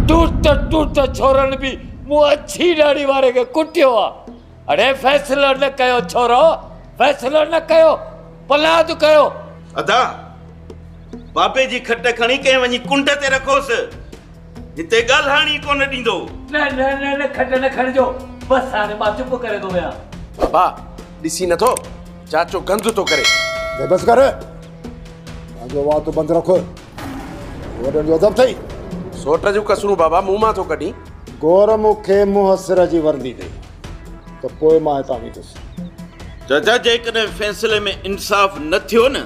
ٽوٽ ٽوٽ ڇورن به مون اڇي ڏاڙهي واري کي ڪٽيو آ اڙي فيصلو نه ڪيو ڇورو فيصلو نه ڪيو پلاد ڪيو. ادا بابي جي کٽ کڻي ڪنهن وڃي ڪنڊ تي رکوس هتي ڳالهائڻ ئي ڪونه ڏيندو. نه نه نه نه کٽ نه کڻجو بس هاڻي مان چپ ڪري ٿو ويهان. بابا ڏسين نٿو چاچو گند ٿو ڪري. بس ڪر پنهنجو وات بند رک. وڏن جو ادب ٿئي. سوٽ جون ڪسرون بابا منهن مان ٿو ڪڍين. گور مون کي منهن سر جي ورندي ڏئي ته پوء مان هتان ويندس. جج جيڪڏهن فيصلي ۾ انصاف نه ٿيو نه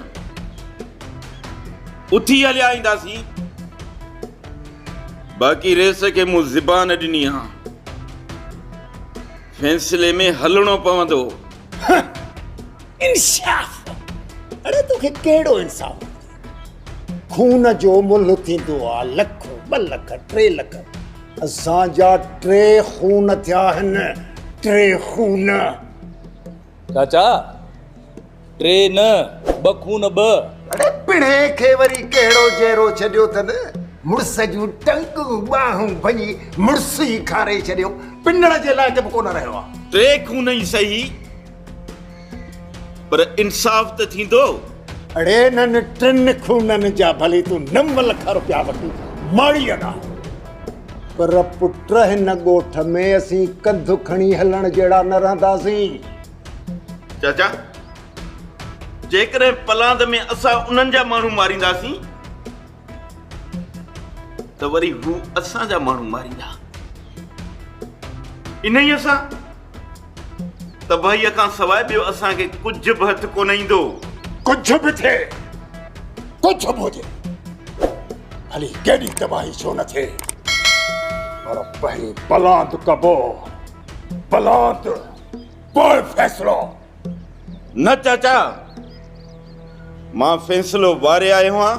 اٿي هليا اينداسين باقي ريس کي مون زبان ڏني آ فيصلي ۾ هلڻو پوندو. انصاف! اڙي توکي ڪهڙو انصاف خون جو ملهه ٿيندو آ لک ٻه لک ٽي لک اسان جا ٽي خون ٿيا آهن ٽي خون چاچا ٽي نه ٻه خون ٻه اڙي پڙهي کي وري ڪهڙو جهرو ڇڏيو اٿن مڙس جون ٽنگون ٻانهون ڀڃي مڙس ئي کاري ڇڏيو پنڙ جي لائق به ڪونه رهيو آ ٽي خون ئي صحيح پر انصاف ته ٿيندو. اڙي انهن ٽن خونن جا ڀلي تون نم لک روپيا وٺي ماڙي اڏاء پر پٽ هن ڳوٺ ۾ اسين ڪنڌ کڻي هلڻ جهڙا نه رهنداسين. چاچا جيڪڏهن پلاند ۾ اسان انهن جا ماڻهو مارينداسين ته وري هو اسان جا ماڻهو ماريندا انهيء سان تباهيء کان سواء ٻيو اسان کي ڪجهه به هٿ ڪونه ايندو ڪجهه به ٿئي ڪجهه به هجي ڀلي ڪيڏي تباهي ڇو نه ٿئي پر پهرين بلاند ڪبو بلاند پوء فيصلو نه چاچا، مان فيصلو واري آيو آهيان،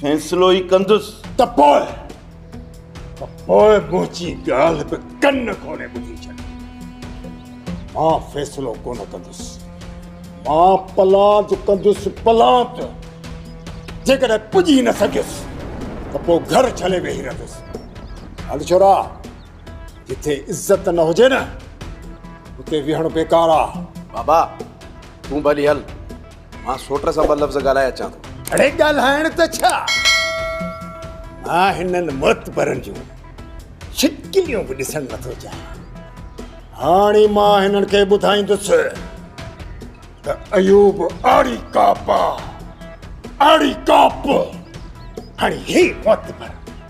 فيصلو ئي ڪندس. ته پوء، ته پوء منهنجي ڳالهه به ڪن کولي ٻڌي ڇڏ. مان فيصلو ڪونه ڪندس، مان پلاند ڪندس، پلاند! جيڪڏهن پڄي نه سگهيس ته پوء گهر جهلي ويهي رهندس. هل ڇورا! جتي عزت نه هجي نه اتي ويهڻ بيڪار آ بابا تون به هلي هل مان سوٽ سان ٻه لفظ ڳالهائي اچان ٿو اڙي ڳالهائڻ ته ڇا مان هنن معتبرن جون شڪليون به ڏسڻ نٿو چاهيان هاڻي مان هنن کي ٻڌائيندس ته ايوب آڙي ڪاپ آ آڙي ڪاپ هاڻي هي معتبر